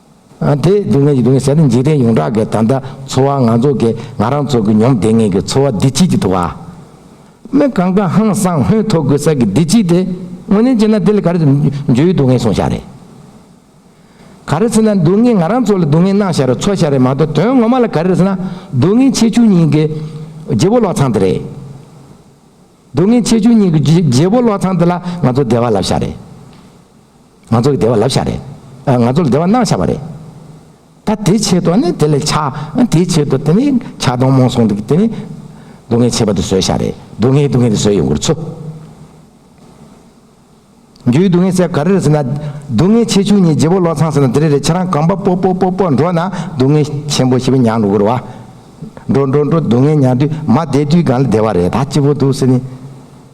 དེ་སྡུག་བསྔལ་གྱི་སྡུག་བསྔལ་ཟད་ནས་འཇིག་རྟེན་ཡོངས་གྲགས་ཀྱི་ད་ལྟ་འཚོ་བ་ང་ཚོ་གི་ང་རང་ཚོ་གི་ཉོམ་བདེ་ངན་གྱི་འཚོ་བ་བདེ་སྐྱིད་ཀྱི་དུ་བ། མི་གང་དགའ་ཧང་སང་ཧོན་ཐོག་གི་ས་གི་བདེ་སྐྱིད་དེ་དངོས་གནས་བྱས་ན་དེ་ལས་ག་རེ་འཇོལ་བའི་སྡུག་བསྔལ་སོང་ཤག་རེད། ག་རེ་ཟེར་ན་སྡུག་བསྔལ་ང་རང་ཚོ་ལ་སྡུག་བསྔལ་གནང་ཤག་རེད་འཚོ་ཤག་རེད་མ་གཏོགས་དོན་ངོ་མ་ལ་ག་རེ་ཟེར་ན་སྡུག་བསྔལ་ཆེ་ཆུང་གཉིས་ཀྱི་རྗེ་བོ་ལོག་ཚང་དེ་རེད། སྡུག་བསྔལ་ཆེ་ཆུང་གཉིས་ཀྱི་རྗེ་བོ་ལོག་ཚང་དེ་ལ་ང་ཚོ་བདེ་བ་ལབ་ཤག་རེད། ང་ཚོ་ལ་བདེ་བ་ལབ་ཤག་རེད། ང་ཚོ་ལ་བདེ་བ་གནང་ཤག་པ་རེད། ད་དེའི་ཆེད་དུ་ནི་དེ་ལས་ཆ། དེའི་ཆེད་དུ་དེ་ནི་ཆ་སྡོང་རྨོངས་སོང་འདུག་དེ་ནི། སྡུག་བསྔལ་ཆེ་བ་དེ་བཟོས་ཤག་རེད། སྡུག་བསྔལ་སྡུག་བསྔལ་དེ་བཟོས་ཡོང་གི་རུ་ཚོ། རྒྱུའི་སྡུག་བསྔལ་ཟེར་ག་རེ་རེད་ཟེར་ན། སྡུག་བསྔལ་ཆེ་ཆུང་གཉིས་རྗེ་བོ་བློ་ཚངས་ཟེར་ན་དེ་རེ་རེ་ཁྱེད་རང་གང་པ་པོ་པོ་པོ་པོ་འགྲོ་ན་སྡུག་བསྔལ་ཆེན་པོ་ཞེས་པའི་མྱང་འགྲོ་གི་རུ་བ། འགྲོ་འགྲོ་འགྲོ་སྡུག་བསྔལ་མྱང་དུས་མ་བདེ་དུས་གང་ལ་བདེ་བ་རེད་ད་སྐྱིད་པོ་འདུག་ཟེར་ནི།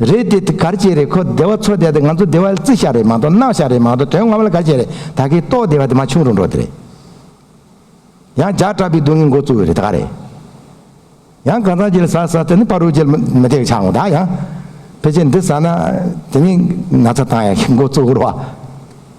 རེད་དེ་གར་བྱེད་རེད་ཁོ་བདེ་བ་འཚོ་བསྡད་དེ་ང་ཚོ་བདེ་བ་རྩི་བཞག་རེད་མ་གཏོགས་གནག་བཞག་རེད་མ་གཏོགས་དོན་ངོ་མ་ལ་གར་བྱེད་རེད་ད་གིས་ལྟོགས་བསྡད་པ་དེ་མ་ཆུང་རུ་འགྲོ་དེ་རེད། ཡང་ཇག་གྲ་པའི་སྡུག་བསྔལ་འགོ་བཙུགས་རེད་ད་ག་རེད། ཡང་གང་ཟག་ཅིག་ལ་ཟ་ཟ་དེ་ནི་པར་རུ་ཅིག་མི་བདེ་བའི་ཆ་འོང་ད་ཡང། ཕལ་ཆེར་འདི་ཟ་ན་དེ་མིན་ན་ཚ་དང་ཡང་འགོ་བཙུགས་རོགས།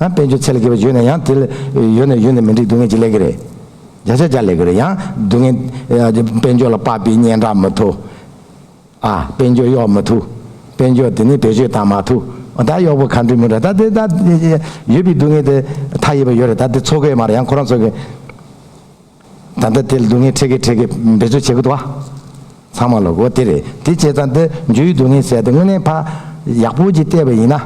དཔལ་འབྱོར་ཚད་ལ་སྐྱེས་པ་ཡོད་ན་ཡང་དེ་ལ་ཡོད་ནས་ཡོད་ནས་མི་འགྲིག་སྡུག་བསྔལ་གྱིས་ལེགས་ཀྱི་རེད། བརྒྱ་ཆ་བརྒྱ་ལེགས་ཀྱི་རེད་ཡང་སྡུག་བསྔལ། དཔལ་འབྱོར་ལ་དཔག་པའི་སྙན་གྲགས་མི་ཐུབ། ཨ། དཔལ་འབྱོར་གཡོག་མི་ཐུབ། དཔལ་འབྱོར་དེ་ནི་བེད་སྤྱོད་བཏང་མ་ཐུབ། ད་གཡོག་པོ་ག་འགྲིག་མི་འགྲིག་ད་དེ་ད། ཡོད་པའི་སྡུག་བསྔལ་དེ་མཐའ་ཡས་པ་ཡོད་རེད་ད་དེ་འཚོལ་དགོས་ཡོད་མ་རེད་ཡང་ཁོ་རང་འཚོལ་དགོས། ད་ལྟ་དེ་ལ་སྡུག་བསྔལ་ཁྲེགས་ཀྱིས་ཁྲེགས་ཀྱིས་འབད་རྩོལ་བྱེད་དགོས་བ། ཚང་མ་ལ་གོ་དེ་རེད་དེ་བྱས་ཙང་འདི་འཇུ་ཡི་སྡུག་བསྔལ་ཟད་དེ་དངོས་གནས་ཕ་ཡག་པོ་གྱིས་བལྟས་པ་ཡིན་ན།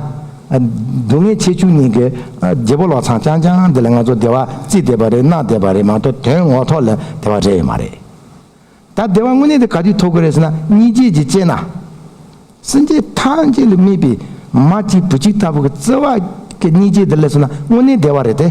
སྡུག་བསྔལ་ཆེ་ཆུང་གཉིས་ཀྱི་རྒྱལ་པོ་ལོག་འཚང་རྐྱང་རྐྱང་འདི་ལ་ང་ཚོ་བདེ་བ་རྩིས་བདེ་བ་རེད་གནག་བདེ་བ་རེད་མ་གཏོགས་དོན་ངོ་ཐོག་ལ་བདེ་བ་རེད་ཡོད་མ་རེད། ད་བདེ་བ་དངོས་གནས་དེ་ག་དུས་ཐོབ་གི་རེད་ཟེར་ན་གཉིས་རྗེས་ཀྱིས་དཔྱད་ན། སེམས་ཅན་ཐམས་ཅད་ལ་སྨིས་པའི་མ་གཅིག་བུ་གཅིག་ལྟ་བུ་གྱི་བརྩེ་བ་གཉིས་རྗེས་འདི་ལས་སོང་ན་དངོས་གནས་བདེ་བ་རེད་དེ།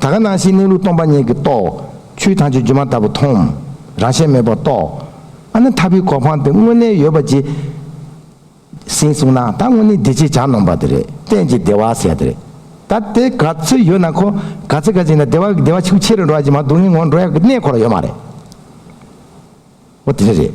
ད་ག་སྣང་བཞིའི་གནས་ལུགས་སྟོང་པ་ཉིད་ཀྱིས་རྟོགས། ཆུའི་དྭངས་ཆུ་རྒྱུན་མ་ལྟ་བུ་མཐོང། རང་ཞལ་མེད་པར་རྟོགས། ཨ་ན་ཐ་བི་གོ་འཕང་སྟེ་དངོས་གནས་ཡོད་པ་ཇི། སིན་གསུངས་ན་ད་དངོས་གནས་འདི་ཅིག་ཅར་ནོངས་པ་དེ་རེད་གཏན་གྱི་བདེ་བ་ཟད་དེ་རེད། ད་དེ་ག་ཚོད་ཡོད་ན་ཁོ་ག་ཚོད་ག་ཅིག་ན་བདེ་བ་བདེ་བ་ཆུ་ཕྱི་རུ་འགྲོ་བ་ཇི་མ་སྡུག་བསྔལ་ངོ་འགྲོ་ཡག་གི་གནས་འཁོར་ཡོད་མ་རེད། འོ་དེ་འདྲ་རེད།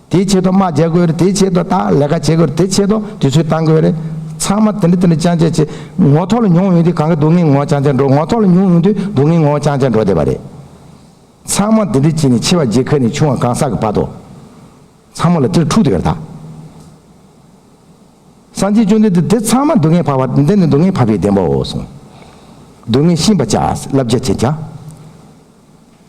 དེའི་ཆེད་དུ་དམག་རྒྱག་དགོས་རེད་དེའི་ཆེད་དུ་ད་ལས་ཀ་བྱེད་དགོས་རེད་དེའི་ཆེད་དུ་དུས་ཚོད་བཏང་དགོས་རེད། ཚང་མ་དེ་འདྲ་དེ་འདྲ་ཅང་ཅེ་ཅེ། ངོ་ཐོག་ལ་མྱོང་ཡོང་དུས་གང་གི་སྡུག་བསྔལ་ངོ་ཅང་ཅང་འགྲོ་ངོ་ཐོག་ལ་མྱོང་ཡོང་དུས་སྡུག་བསྔལ་ངོ་ཅང་ཅང་འགྲོ་བསྡད་པ་རེད། ཚང་མ་དེ་འདྲ་བྱས་ནས་ཆེ་བ་རྗེ་ཁ་ནས་ཆུང་བ་གང་ཟག་གི་བར་དུ། ཚང་མ་ལ་དེ་འདྲ་འཁྲུག་བསྡད་པ་རེད་ད། སངས་རྒྱས་བཅོམ་ལྡན་འདས་དེ་ཚང་མ་སྡུག་བསྔལ་བར་བ་འདི་ནི་སྡུག་བསྔལ་བར་བའི་བདེན་པའོ་གསུངས། སྡུག་བསྔལ་ཤིན་པ་བྱ། བསླབ་བྱ་བྱེད་བྱ།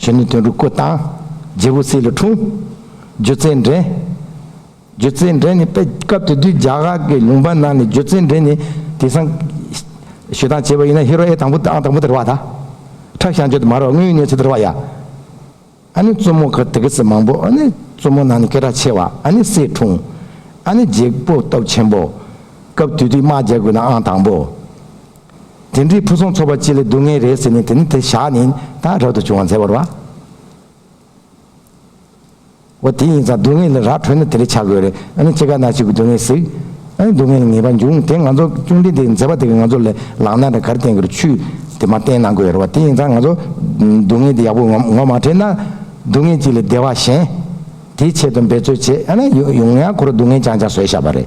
གཞོན་ནུའི་དོན་རུ་བཀོད་དང། རྗེ་བོ་སྲས་ལ་འཁྲུངས། སྒྱུ་རྩལ་འགྲན། སྒྱུ་རྩལ་འགྲན་ནི་དཔེ། སྐབས་དེ་དུས་རྒྱ་གར་གྱི་ལུང་པ་རྣམས་ནས་སྒྱུ་རྩལ་འགྲན་ནི་དེང་སང། ཞུ་སྟངས་བྱས་པ་ཡིན་ན་ཧེ་རོ་ཨེ་དང་པོ་ཨང་དང་པོ་དེར་བ་ད། ཁྲག་ཤ་འཇོ་དེ་མ་རོ་དངུལ་གནས་ཚུལ་དེར་བ་ཡ། ཨ་ནི་བཙུན་མོ་གར་དེ་གི་སི་མང་པོ་ཨ་ནི་བཙུན་མོ་ནང་ནས་སྐད་གྲགས་ཆེ་བ་ཨ་ནི་སྲས་འཁྲུངས། ཨ་ནི་རྗེ་བོ་སྟོབས་ཆེན་པོ། སྐབས་དུས་དུས་དམག་རྒྱལ་དགོས་ན་ཨང་དང་པོ། དེ་འདྲའི་ཕུན་སུམ་ཚོགས་པ་ཅི་ལས་སྡུག་བསྔལ་རེད་ཟེར་ནས་དེ་ནི་དེ་བཞག་ནས་ད་རབ་ཏུ་བྱུང་བ་མཛད་པར་བ། འོ་དེ་ཡིན་ཙང་སྡུག་བསྔལ་ལ་ར་འཕྲོད་ན་དེ་ལས་བྱ་དགོས་རེད་ཨ་ནི་ཁྱེད་ག་ན་ཞིག་གི་སྡུག་བསྔལ་ཟིག་ཨ་ནི་སྡུག་བསྔལ་ལ་ངེས་པར་འབྱུང་དེ་ང་ཚོ་གཅུང་འདྲེ་འདིས་མཛད་པ་དེ་ག་ང་ཚོ་ལས་ལག་ན་ར་གར་བསྟན་གིར་ཆུ་དེ་མ་བསྟན་ན་དགོས་རེད་བ་དེ་ཡིན་ཙང་ང་ཚོ་སྡུག་བསྔལ་དེ་ཡག་པོ་ངོ་མ་འཕྲད་ན་སྡུག་བསྔལ་ཅིག་ལས་བདེ་བ་གཞན་དེའི་ཆེད་དུ་འབད་རྩོལ་བྱེད་ཨ་ན་ཡོང་ཡང་ཁོ་ར་སྡུག་བསྔལ་ཅང་ཅང་བཟོད་བཞག་པ་རེད་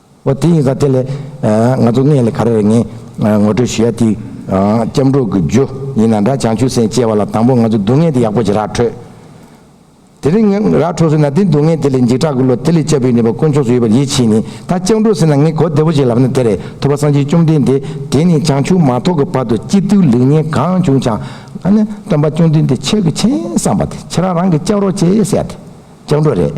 ཨོ་དེ་ཡིན་ཙང་དེ་ལས། ང་ཚོ་སྔས་ལས་ག་རེ་རེད་ངས་ངོ་སྤྲོད་ཞུ་ཡ་དེ། སྐྱབས་འགྲོ་གི་རྒྱུ་ཡིན་ན་འདྲ་བྱང་ཆུབ་སེམས་སྐྱེ་བ་ལ་དང་པོ་ང་ཚོ་སྡུག་བསྔལ་དེ་ཡག་པོ་ཅིག་རག་འཕྲོད། དེ་རིང་ངས་རག་འཕྲོ་ཟེར་ན་དེ་སྡུག་བསྔལ་དེ་ལས་འཇིགས་སྐྲག་གི་བློ་དེ་ལས་བཅའ་བུའི་ནུས་པ་དཀོན་མཆོག་སུ་ཡོད་པར་ཡིད་ཆེས་ནས་ད་སྐྱབས་འགྲོ་ཟེར་ན་ངས་གོ་བདེ་པོ་ཅིག་ལབ་ན་དེ་རེད་ཐུབ་པ་སངས་རྒྱས་བཅོམ་ལྡན་འདས་དེ་ནས་བྱང་ཆུབ་མ་ཐོབ་ཀྱི་བར་དུ་སྐྱིད་སྡུག་ལེགས་ཉེས་གང་བྱུང་ཆང་ཨ་ནི་སྟོན་པ་བཅོམ་ལྡན་འདས་ཆེས་གི་མཁྱེན་བཟང་པ་དེ་ཁྱེད་རང་རང་གི་སྐྱབས་རོགས་བྱེད་ཟེར་ཡ་དེ་སྐྱབས་འགྲོ་རེད།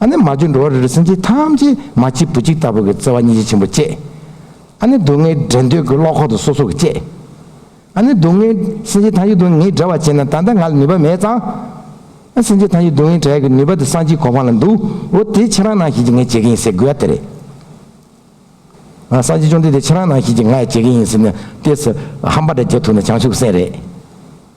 ཨ་ནི་མ་བཅོས་འགྲོ་བ་རིལ་རིལ་སེམས་ཅན་ཐམས་ཅད་མ་གཅིག་བུ་གཅིག་ལྟ་བུ་གི་བརྩེ་བ་སྙིང་རྗེ་ཆེན་པོ་བསྐྱེད། ཨ་ནི་སྡུག་བསྔལ་བྲལ་འདོད་ཀྱི་བློ་ཁོག་ཏུ་སོ་སོ་གི་བསྐྱེད། ཨ་ནི་སྡུག་བསྔལ་སེམས་ཅན་ཐམས་ཅད་སྡུག་བསྔལ་བྲལ་བར་བྱེད་ན་ད་ལྟ་ང་ལ་ནུས་པ་མེད་ཙང། ཨ་སེམས་ཅན་ཐམས་ཅད་སྡུག་བསྔལ་བྲལ་གྱི་ནུས་པ་དེ་སངས་རྒྱས་གོ་འཕང་ལ་འདུག་འོ་དེ་ཁྱེད་རང་ནང་བཞིན་གྱི་ངས་བྱེད་ཀྱི་ཡིན་ཟེར་དགོས་པ་དེ་རེད། སངས་རྒྱས་བཅོམ་ལྡན་འདས་ཁྱེད་རང་ནང་བཞིན་གྱི་ང་ཡང་བྱེད་ཀྱི་ཡིན་ཟེར་ནས་ལྟས་ཟེར་ཧམ་པ་འདྲ་རྒྱག་ཐུབ་ན་བྱང་ཆུབ་སེམས་རེད།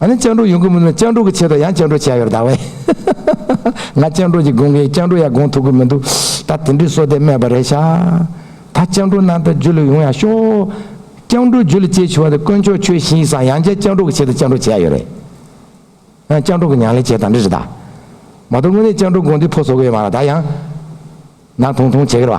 ཨ་ནི་སྤྱང་གྲུང་ཡོང་གི་མི་འདུག་སྤྱང་གྲུང་གི་ཆེད་དུ་ཡང་སྤྱང་གྲུང་བྱས་ཡོད་རེད་དཱ། ང་སྤྱང་གྲུང་ཅིག་དགོངས་གིན་སྤྱང་གྲུང་ཡང་དགོངས་ཐུབ་གི་མི་འདུག་ད་དེ་འདྲའི་སོ་དེ་སྨྲས་པ་རེད་ཤག། ད་སྤྱང་གྲུང་ནང་དུ་འཇུ་ལུགས་ཡོང་ཡག་ཤོག། སྤྱང་གྲུང་འཇུ་ལུགས་སྐྱེལ་བྱུང་བ་དེ་དཀོན་མཆོག་ཁྱོད་བཞིན་ཡིན་སང་ཡང་བསྐྱར་སྤྱང་གྲུང་གི་ཆེད་དུ་སྤྱང་གྲུང་བྱས་ཡོད་རེད། ཨ་སྤྱང་གྲུང་གི་མྱང་ལས་བྱས་དང་འདྲ་རེད་དཱ། མ་གཏོགས་དངོས་གནས་སྤྱང་གྲུང་དགོངས་འདུས་ཕོ་བཟོ་གི་ཡོད་མ་རེད་དཱ་ཡང། ནང་ཐུང་ཐུང་བྱེད་གི་རེད་བ།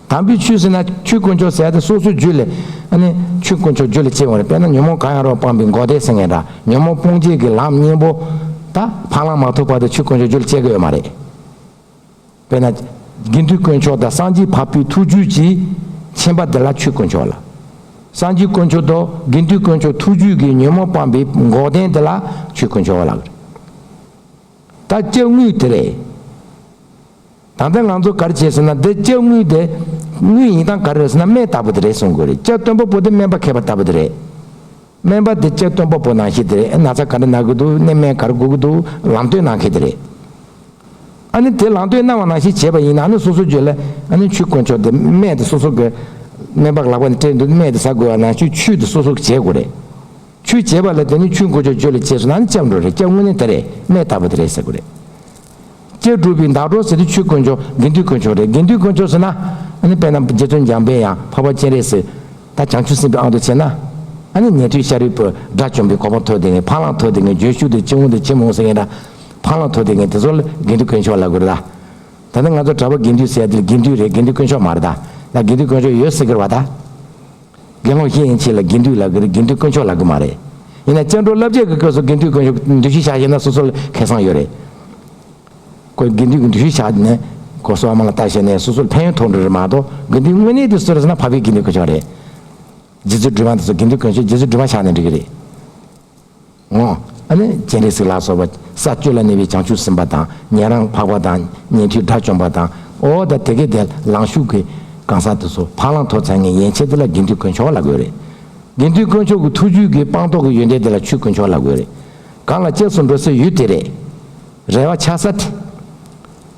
དམ་པའི་ཆོས་ཟེར་ན་ཆོས་དཀོན་མཆོག་ཟེར་ཡ་དེ་སོ་སོའི་རྒྱུད་ལས། ཨ་ནི། ཆོས་དཀོན་མཆོག་རྒྱུད་ལས་སྐྱེས་འོངས་རེད་དཔེར་ན་ཉོན་མོངས་གང་ཡང་རོ་སྤངས་པའི་མགོ་བདེ་ཟེར་ངེས་འདྲ་ཉོན་མོངས་སྤོང་བྱེད་ཀྱི་ལམ་གཉེན་པོ། ད། འཕང་ལམ་མ་ཐོབ་བར་དུ་ཆོས་དཀོན་མཆོག་རྒྱུད་ལས་སྐྱེ་གི་ཡོད་མ་རེད། དཔེར་ན། དགེ་འདུན་དཀོན་མཆོག་དང་སངས་རྒྱས་བབས་པའི་ཐུགས་རྒྱུད་ཀྱི། མཁྱེན་པ་འདི་ལ་ཆོས་དཀོན་མཆོག་ལ། སངས་རྒྱས་དཀོན་མཆོག་དང་དགེ་འདུན་དཀོན་མཆོག་ཐུགས་རྒྱུད་ཀྱི་ཉོན་མོངས་སྤངས་པའི་མགོ་བདེ་འདི་ལ་ཆོས་དཀོན་མཆོག་ལགས། ད་སྐྱབས་དངོས་དེ་རེད། ད་ལྟ་ང་ཚོ་གར་བྱེད་ཟེར་ན་འདི་ལྕགས་དངུལ་དེ། དངུལ་ཡིན་སྟངས་ག་རེ་རེད་ཟེར་ན་སྨན་ལྟ་བུ་དེ་རེད་གསུང་དགོས་རེད་ལྕགས་སྟོན་པོ་པོ་དེ་སྨན་པ་མཁས་པ་ལྟ་བུ་དེ་རེད། སྨན་པ་དེ་ལྕགས་སྟོན་པོ་པོ་ནང་བཞིན་དེ་རེད་ན་ཚ་ག་རེ་ན་གི་འདུག་ནད་སྨན་ག་རེ་འགོ་གི་འདུག་ལམ་སྟོན་གནང་མཁན་དེ་རེད། ཨ་ནི་དེ་ལམ་སྟོན་གནང་བ་ནང་བཞིན་བྱས་པ་ཡིན་ན་ཨ་ནི་སོ་སོ་བརྗོད་ལ་ཨ་ནི་ཆུ་དཀོན་མཆོག་དེ་སྨན་དེ་སོ་སོ་གི། སྨན་པ་ལག་པ་ནས་སྤྲད་འདུག་སྨན་དེ་ཟ་དགོས་བ་ན་ཆུ་ཆུ་དེ་སོ་སོ་གི་བྱས་དགོས་རེད། ཆུ་བྱས་པ་ལ་དེ་ནི་ཆུ་འགོ་ཆོག་བརྗོད་ལ་བྱས་ཟེར་ན་ཨ་ནི་ལྕགས་འགྲོ་རེད་ལྕགས་དངུལ་ནི་དེ་རེད་སྨན་ལྟ་བུ་དེ་རེད་ཟེར་དགོས་རེད། སྐྱེས་གྲུབ་པའི་མདའ་གྲོགས་ཟེར་དུས་ཆོས་དཀོན་མཆོག་དགེ་འདུན་དཀོན་མཆོག་རེད་དགེ་འདུན་དཀོན་མཆོག་ཟེར་ན། ཨ་ནི་དཔེ་ན་རྗེ་བཙུན་འཇམ་དཔལ་ཡང་འཕགས་པ་སྤྱན་རས་གཟིགས། ད་བྱང་ཆུབ་སེམས་དཔའི་ཨང་དུ་བྱས་ན། ཨ་ནི་ཉན་ཐོས་ཤཱ་རིའི་བུ་དགྲ་བཅོམ་པའི་གོ་འཕང་མཐོ་དེ་ངས་འཕང་ལང་མཐོ་དེ་ངས་འགྱོད་ཤུགས་དེ་ཅི་འོང་དེ་ཅི་མི་འོང་ཟེར་མཁན་འདྲ། འཕང་ལང་མཐོ་དེ་ངས་དེ་ཚོ་དགེ་འདུན་དཀོན་མཆོག་ལ་དགོས་རེད་ལ། ད་ནི་ང་ཚོ་གྲྭ་པ་དགེ་འདུན་ཟེར་ཡ་དེ་དགེ་འདུན་རེད་དགེ་འདུན་དཀོན་མཆོག་མ་རེད་ད། ད་དགེ་འདུན་དཀོན་མཆོག་ཡོད་ཟེར་གི་རེད་བ་ད། དགེ་སློང་ཤེས་ཡིན་ཕྱིན་ལ་དགེ་འདུན་ལག་གི་རེད་དགེ་འདུན་དཀོན་མཆོག་ལག་གི་མ་རེད། ཡིན་ན་སྤྱན་འཕྲོ་བསླབ་བྱ་གི་སྐབས་སུ་དགེ་འདུན་དཀོན་མཆོག་འདུ་ཤེས་བྱ་ཞེས་ན་སོ་སོ་ལ་ཁེ་བཟང་ཡོད་རེད། དགེ་འདུན་གྱི་འདུ་ཤེས་བྱ་ནི་གོ་སོ་བ་མང་ལ་བལྟ་བྱས་ནས་སོ་སོ་ལ་ཕན་ཡོན་ཐོགས་འགྲོ་རེད་མ་གཏོགས་དགེ་འདུན་དངོས་གནས་དེ་གསོད་རེ་ཟེར་ན་བྷ་བྷའི་དགེ་འདུན་དཀོན་མཆོག་རེད། རྗེ་བཙུན་སྒྲོལ་མ་འདི་ཚོ་དགེ་འདུན་དཀོན་མཆོག་རྗེ་བཙུན་སྒྲོལ་མ་ཆགས་ནས་འགྲིག་གི་རེད། ངོ། སྤྱན་རས་གཟིགས་ལ་སོགས་པ་ས་སྤྱོད་ལ་གནས་པའི་བྱང་ཆུབ་སེམས་དཔའ་དང་ཉན་རང་འཕགས་པ་དང་ཉན་ཐོས་དགྲ་བཅོམ་པ་དང། ཨོ་ད་དེ་གའི་དེ་ལང་གཞུག་གི་གང་ཟག་དེ་ཚོ་འཕགས་ལང་ཐོ་ཚན་ངན་ཡན་ཆད་དེ་ལ་དགེ་འདུན་དཀོན་མཆོག་ལ་དགོས་རེད། དགེ་འདུན་དཀོན་མཆོག་གི་ཐུགས་རྒྱུད་ཀྱི་སྤངས་རྟོགས་ཀྱི་ཡོན་ཏན་དེ་ལ་ཆུ་དཀོན་མཆོག་ལ་དགོས་རེད། གང་ལ་གཅེས་སུ་འགྲོ་སའི་ཡུལ་དེ་རེད། རེ་བ་ཆགས་ས་དེ།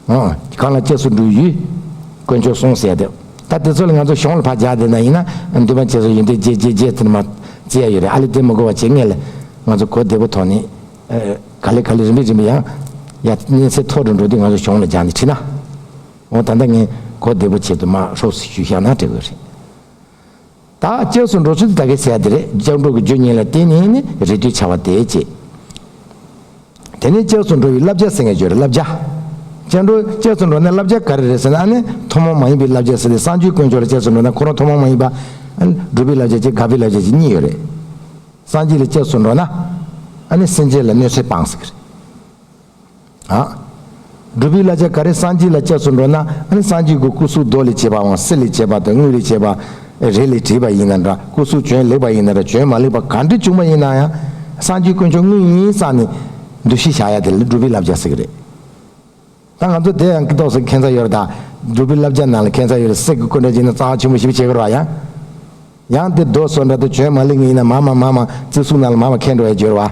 གང་ལ་སྐྱེས་སུ་འགྲོའི་ཡུལ། དཀོན་མཆོག་གསུངས་གསལ་དེ། ད་དེ་ཚོ་ལ་ང་ཚོ་གཞུང་ལ་བག་རྒྱག་དེ་འདྲ་ཡིན་ན་འདུན་པ་བྱེད་སྲོལ་ཡོད་འདུག་རྗེས་རྗེས་རྗེས་དེ་འདྲ་མ། བྱེད་ཡ་ཡོད་རེད་ཨ་ལེ་དེ་མི་གོ་བ་བྱེད་ངེས་ལ། ང་ཚོ་གོ་བདེ་པོ་ཐོག་ནས། ག་ལེ་ག་ལེ་རིམ་པས་རིམ་པས་ཡང། ཡ། གནས་ཚད་མཐོ་རུ་འགྲོ་དུས་ང་ཚོ་གཞུང་ལ་རྒྱག་ནས་ཁྲིད་ན། འོ་ད་ལྟ་ངས་གོ་བདེ་པོ་བྱེད་དུ་མ་ཧྲོགས་སུ་ཞུ་བཞག་ན་དྲེགས་དགོས་རེད། དག་བཅས་སུ་འགྲོ་ཚུལ་དེ་དག་གི་ཟས་དེ་རེས་བཅག་འགྲོ་གི་བརྗོད་ཉེས་ལ་བརྟེན་ནས་ནི་རེས་དུས་བྱ་བ་དེའི་རྗེས། དེ་ནས་བཅས་སུ་འགྲོ་བའི་བསླབ་བྱ་ཟེར་ངེས་བརྗོད་རེས་བསླབ་བྱ། བཅས་འགྲོ་བཅས་སུ་འགྲོ་ནས་བསླབ་བྱ་ག་རེ་རེད་ཟེར་ན་ཨ་ནི་ཐོག་མ་མ་ཡིན་པའི་བསླབ་བྱ་ཟེར་ཏེ་གསང་སྤྱོད་དཀོན་མཆོག་ལ་བཅས་སུ་འགྲོ་ན་ཁོ་རང་ཐོག་མ་མ་ཡིན་པ། སྒྲུབ་པའི་བསླབ་བྱ་བཅས་དགག་པའི་བསླབ་བྱ་བཅས་གཉིས་ཡོད་རེད། སངས་རྒྱས་ལ་བཅས་སུ་འགྲོ་ན་ཨ་ནི་སེམས་ཅན་ལ་གནོད་འཚེ་སྤངས་ཟེར་གི་རེད། སྒྲུབ་པའི་བླ་ཆེན་ག་རེ་གསང་སྤྱི་ལ་སྐྱབས་སུ་འགྲོ་ན་ནི་གསང་སྤྱིའི་སྒོ་སྐུ་གཟུགས་རྡོ་ལས་བྱས་པའང་གསེར་ལས་བྱས་པ་དང་དངུལ་ལས་བྱས་པ། རས་ལས་བྲིས་པ་ཡིན་ན་འདྲ་སྐུ་གཟུགས་བྱོན་ལེགས་པ་ཡིན་ན་འདྲ་བྱོན་མ་ལེགས་པ་ག་འདྲས་བྱུང་བ་ཡིན་ན་ཡང། གསང་སྤྱིའི་དཀོན་མཆོག་དངོས་ཡིན་བསམ་ནས་འདུ་ཤེས་བཞག་ཡ་དེ་ལས་སྒྲུབ་པའི་བསླབ་བྱ་བསྲེག་རེད། ད་ང་ཚོ་དེ་ཡང་ཀི་ཏོག་སེ་ཁེན་ཚ་ཡོར་དང་སྒྲུབ་པའི་བསླབ་བྱ་ནང་ལ་ཁེན་ཚ་ཡོར་སེག་གི་སྐུ་འདྲ་བྱས་ན་རྩ་བ་ཆེན་པོ་ཞིག་བྱེད་དགོས་རོགས་ཡང། ཡང་དེ་རྡོ་སོལ་འདྲ་དུ་བྱོན་མ་ལེགས་ངེས་ཡིན་ན་མ་མ་མ་མ་རྩི་གཟུགས་ནང་ལ་མ་མ་ཁེན་འགྲོ་ཡ་བརྗོད་རོགས་ཨ།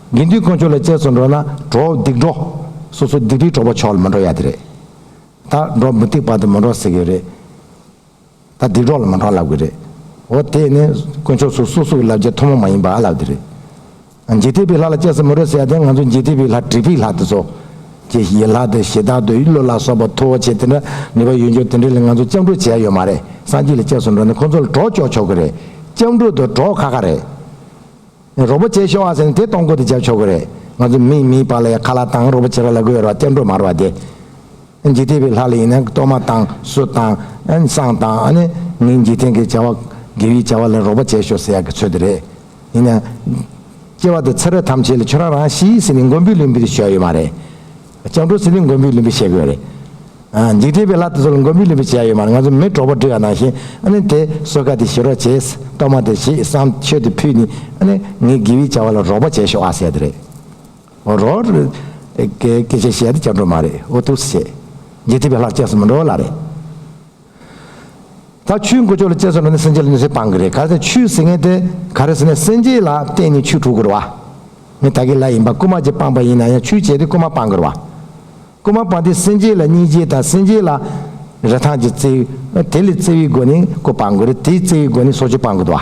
དགེ་འདུན་དཀོན་མཆོག་ལ་བཅས་སུ་འགྲོ་ན་གྲོགས་སྡིག་འགྲོ། སོ་སོ་སྡིག་རིགས་གྲོགས་པ་ཕྱོགས་ལ་མ་འགྲོ་ཡག་དེ་རེད། ད་འགྲོ་མུ་སྟེགས་པ་དང་མ་འགྲོ་ཟེར་གི་རེད། ད་སྡིག་གྲོགས་ལ་མ་འགྲོ་ལབ་གི་རེད། འོ་དེས་ནི་དཀོན་མཆོག་སུ་སོ་སུ་གི་ལབ་རྒྱ་ཐུན་མོང་མ་ཡིན་པ་ཨ་ལབ་དེ་རེད། འཇིག་རྟེན་པའི་ལྷ་ལ་བཅས་སུ་མ་འགྲོ་ཟེར་ཡག་དེ་ང་ཚོ་འཇིག་རྟེན་པའི་ལྷ་དྲེགས་པའི་ལྷ་དེ་ཚོ། ཀྱི་ཡི་ལྷ་དེ་ཞེ་སྡང་དུ་ཡི་བློ་ལ་སོགས་པ་མཐུ་བོ་ཆེ་དེ་འདྲ་ནུས་པ་ཡོད་འཇུག་དེ་འདྲ་ལ་ང་ཚོ་སྤྱང་གྲུང་བྱས་ཡོད་མ་རེད་སངས་རྒྱས་ལ་བཅས་སུ་འགྲོ་ནི་ཁོ་ཚོ་ལ་གྲོགས་ལྕོག་ཆོག་གི་རེད་སྤྱང་གྲུང་དང་གྲོགས་ཁ་ཁ་རེད། རོགས་པ་བྱས་ཤོག་ཨ་ཟེར་ནས་དེ་གཏོང་གོ་དེ་བྱ་ཆོག་གི་རེད། ང་ཚོ་མིས་མིའི་བག་ལ་ཡ་ཁ་ལག་བཏང་རོགས་པ་བྱེད་ར་ལ་དགོས་ཡོད་ར་བ་སྐྱབས་འགྲོ་མ་ར་བ་དེ། འཇིག་རྟེན་པའི་ལྷ་ལ་ཡིན་ན་གཏོར་མ་བཏང་གསོལ་བཏང་བསང་བཏང་ཨ་ནི་མིའི་འཇིག་རྟེན་གྱི་བྱ་བ་དགེ་བའི་བྱ་བ་ལ་རོགས་པ་བྱས་ཤོག་ཟེར་ཡག་གི་ཚོད་དེ་རེད། ཡིན་ན། སྐྱེ་བ་དང་ཚེ་རབས་ཐམས་ཅད་ལ་ཁྱོད་རང་རང་ཤི་ཡིས་ཟེར་ནས་མགོ་འབུལ་ལུས་འབུལ་དེ་བྱ་ཡོད་མ་རེད། སྤྱང་གྲུང་ཟི་ལིང་མགོན་པོའི་གླིང་པས་བཤད་དགོས་རེད། འཇིག་རྟེན་པའི་ལྷ་དེ་ཚོ་ལ་མགོན་པོའི་གླིང་པས་བྱས་ཡོད་མ་རེད་ང་ཚོ་མི་གྲོགས་པོ་འདྲི་ག་ནང་ཞིག་ཨ་ནི་དེ་གསོལ་ཀ་དེ་ཞུ་རོགས་བྱེད་གཏོར་མ་དེ་ཞིག་བསང་མཆོད་དེ་ཕུལ་ནི་ཨ་ནི་ངའི་དགེ་བའི་བྱ་བ་ལ་རོགས་པ་བྱས་ཤོག་ཨ་ཟེར་དེ་རེད། འོ་རོགས། སྐད་ཆ་བཤད་དེ་སྤྱང་གྲུང་མ་རེད་འོ་ཐུགས་སུ་ཆེ། འཇིག་རྟེན་པའི་ལྷ་ཁྱེད་སུ་མི་འགྲོ་ལ་རེད། ད་ཆུའི་མགོ་ལྕོག་ལ་དཔྱད་བཟོད་ལོ་ནི་སེམས་ཅན་ལ་ནུས་ཟིན་སྤང་གི་རེད་ག་རེ་ད་ཆུའི་ཟིན་ངེས་ཏེ་ག་རེ་ཟིན་ནས་སེམས་ཅན་ལ་བརྟེན་ནས་ཆུ་དྲུག་དགོས་ར་བ་ནི་ད་གི་ལ་ཡིན་པ་རྐུ་མ་ཅིག་སྤངས་པ་ཡིན་ན་ཡང་ཆུ་བྱས་ཏེ་རྐུ་མ་སྤང་གི་ར་བ་རྐུ་མ་སྤངས་ཏེ་སེམས་ཅན་ལ་གཉིས་བྱས་དང་སེམས་ཅན་ལ་རེ་ཐང་ཅིག་བརྩེ་བས་དེ་ལས་བརྩེ་བའི་སྒོ་ནས་རྐུ་སྤང་གི་རེད་དེའི་བརྩེ་བའི་སྒོ་ནས་སྲོག་ཆུ་སྤང་གི་དུ་བ།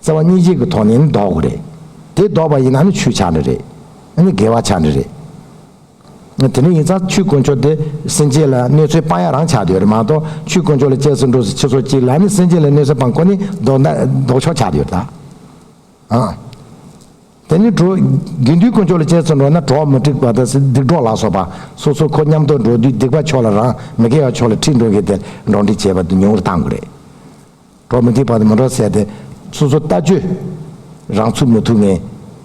བརྩེ་བ་གཉིས་ཅན་གྱི་ཐོག་ནས་ནི་ལྡོག་གི་རེད། དེ་ལྡོག་པ་ཡིན་ན་ནི་ཆུའི་ཆང་རི་རེད། ཨ་ནི་དགེ་བ་ཆང་རི་རེད། དེ་འདྲ་ཡིན་ཙང་ཆུའི་དཀོན་མཆོག་དེ་སེམས་ཅན་ལ་གནོད་འཚེའི་དཔང་ཡག་རང་ཆགས་ཀྱི་ཡོད་རེད་མ་གཏོགས་ཆུའི་དཀོན་མཆོག་ལ་གཅེས་སུ་འགྲོ་སའི་ཕྱི་ཚོགས་གཅིག་ལ་ནི་སེམས་ཅན་ལ་གནོད་འཚེ་དཔང་ཁོ་ནི་ལྡོག་ལྡོག་ཆོག་ཆགས་ཀྱི་ཡོད་ད། དེ་ནི་གྲོགས། དགེ་འདུན་དཀོན་མཆོག་ལ་གཅེས་སུ་འགྲོ་ན་གྲོགས་མི་འགྲིག་པ་དང་སྡིག་གྲོགས་ལ་སོགས་པ་སོ་སོ་ཁོ་མཉམ་དུ་འགྲོ་དུས་སྡིག་པ་ཕྱོགས་ལ་རང་མི་དགེ་བ་ཕྱོགས་ལ་ཁྲིད་འགྲོ་མཁན་དེར་འགྲོགས་འདྲིས་བྱེད་པ་དེ་ཉུང་རུ་གཏང་དགོས་རེད། གྲོགས་མི་ཐིག་པ་དང་མི་འགྲོགས་བསད་པས་སོ་སོ་ལྟ་སྤྱོད་རང་ཚུགས་མི་ཐུབ་ངེས།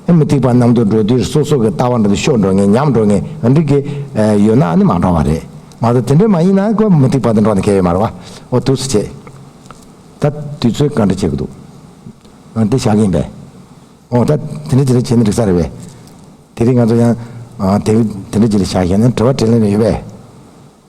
ཨེ་མི་ཐིག་པ་རྣམས་དུད་འགྲོའི་དུས་སོ་སོ་གི་ལྟ་བ་འགྲོ་དུས་ཤོར་འགྲོ་ངེས་ཉམས་འགྲོ་ངེས་གང་འགྲིག་གི། ཡོད་ནའང་ནི་མ་འགྲོགས་པ་རེད། མ་ཟད་དེ་འདྲ་མ་ཡིན་ནའང་ཀོ་མི་ཐིག་པ་དང་འགྲོགས་ནས་གལ་ཡོད་མ་རེད། འོ་དུས་སུ་བྱེད། ད་དུས་ཚོད་གང་འདྲ་བྱེད་ཀྱི་འདུག། འོ་དེ་ཞག་ཡིན་པས། འོ་ད་དེ་འདྲ་ཅི་ལ་བྱེད་ན་འགྲིག་ས་རེད་བས། དེ་རིང་ང་ཚོ་ཡང། དེ་འདྲ་ཅི་ལ་བྱ་ཞེ་ན་དྲི་བ་དྲིས་ལན་རེ་ཡོད་བས།